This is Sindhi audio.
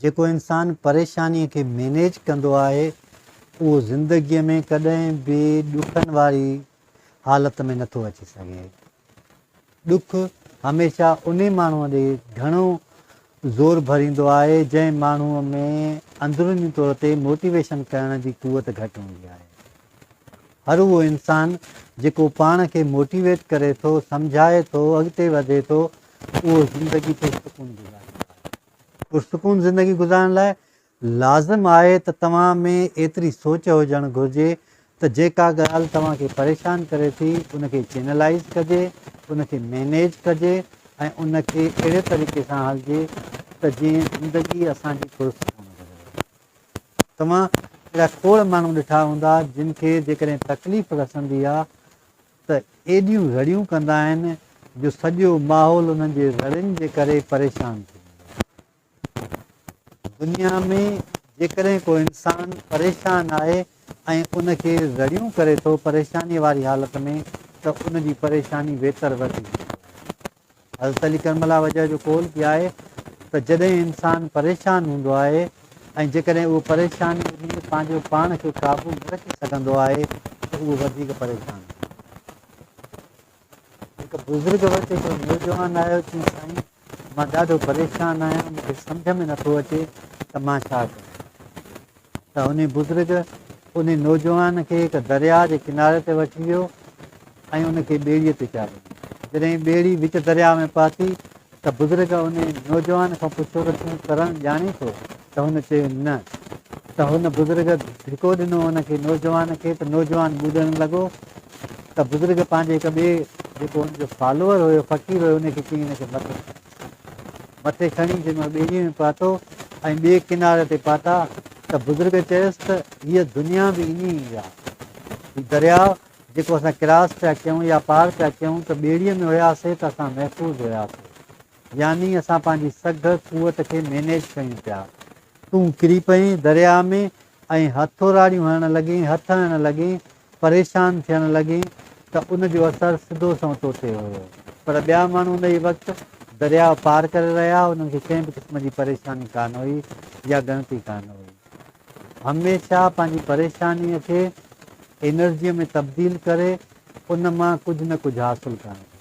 جيڪو انسان پريشانيء کي مينيج ڪندو آهي، اهو زندگيء ۾ ڪڏهن به ڏکن واري حالت ۾ نٿو اچي سگهي. ڏک هميشه انهي ماڻهوء ڏي گهڻو زور ڀريندو آهي، جنهن ماڻهوء ۾ اندروني طور تي موٽيويشن ڪرڻ جي قوت گهٽ هوندي آهي. هر اهو انسان جيڪو پاڻ کي موٽيويٽ ڪري ٿو، سمجهائي ٿو، اڳتي وڌي ٿو، اهو زندگي تي سڪون گذاريندو آهي. پرسڪون زندگي گذارڻ لاء لازم آهي ته توهان ۾ ايتري سوچ هجڻ گهرجي ته جيڪا ڳالهه توهان کي پريشان ڪري ٿي ان کي چينلائيز ڪجي، ان کي مينيج ڪجي ۽ ان کي اهڙي طريقي سان هلجي ته جيئن زندگي اسان جي پرسڪون گذري. توهان اهڙا کوڙ ماڻهو ڏٺا هوندا جن کي جيڪڏهن تڪليف رسندي آ، ته ايڏيون زڙيون ڪندا آهن جو سڄو ماحول انهن جي زڙين جي ڪري پريشان ٿي ويندو آهي. دنيا ۾ جيڪڏهن ڪو انسان پريشان آهي ۽ ان کي زڙيون ڪري ٿو پريشانيء واري حالت ۾ ته ان جي پريشاني ويتر وڌي ويندي آهي. حضرت علي ڪرم الله وجهه جو قول به آهي ته جڏهن انسان پريشان هوندو آهي ۽ جيڪڏهن اهو پريشانيء ۾ پنهنجو پاڻ کي قابو نه رکي سگهندو آهي ته اهو وڌيڪ پريشان هوندو. هڪ بزرگ وٽ هڪڙو نوجوان آيو چيائين سائين مان ڏاڍو پريشان آهيان مون کي سمجهه ۾ نٿو اچي ته مان ڇا ڪريان. ته انهي بزرگ انهي نوجوان کي هڪ درياء جي ڪناري تي وٺي ويو ۽ ان کي ٻيڙيء تي چاڙهيو. جڏهن ٻيڙي وچ درياء ۾ پهتي ته بزرگ انهي نوجوان کان پڇيو ته تون ترڻ ڄاڻين ٿو؟ ته هن چيو نه ته هن بزرگ ڌڪو ڏنو ان کي نوجوان کي ته نوجوان ٻڏڻ لڳو ته بزرگ پنهنجي هڪ ٻئي جيڪو ان جو فالوور هيو فقير هيو انهي کي چيائين هن کي مت مٿي کڻي جنهن مهل ٻيڙيء ۾ پهتو ۽ ٻئي ڪناري تي پهتا ته بزرگ چيس ته هيء دنيا به ائين ئي آ. هي درياء جيڪو اسان ڪراس پيا ڪيون يا پار پيا ڪيون ته ٻيڙيء ۾ هياسين ته اسان محفوظ هياسين. يعني اسان پنهنجي سگهه قوت کي مينيج ڪيون پيا. تون ڪري پئين درياء ۾ ۽ هٿوراڙيون هڻڻ لڳين، هٿ هڻڻ لڳين پريشان ٿيڻ لڳين ته ان جو اثر سڌو سنئون تو تي هيو. پر ٻيا ماڻهو انهيء وقت درياء پار ڪري رهيا هئا، انهن کي ڪنهن به قسم جي پريشاني ڪانه هئي يا ڳڻتي ڪانه هئي. هميشه پنهنجي پريشانيء کي انرجيء ۾ تبديل ڪري ان مان ڪجهه نه ڪجهه حاصل ڪرڻ گهرجي.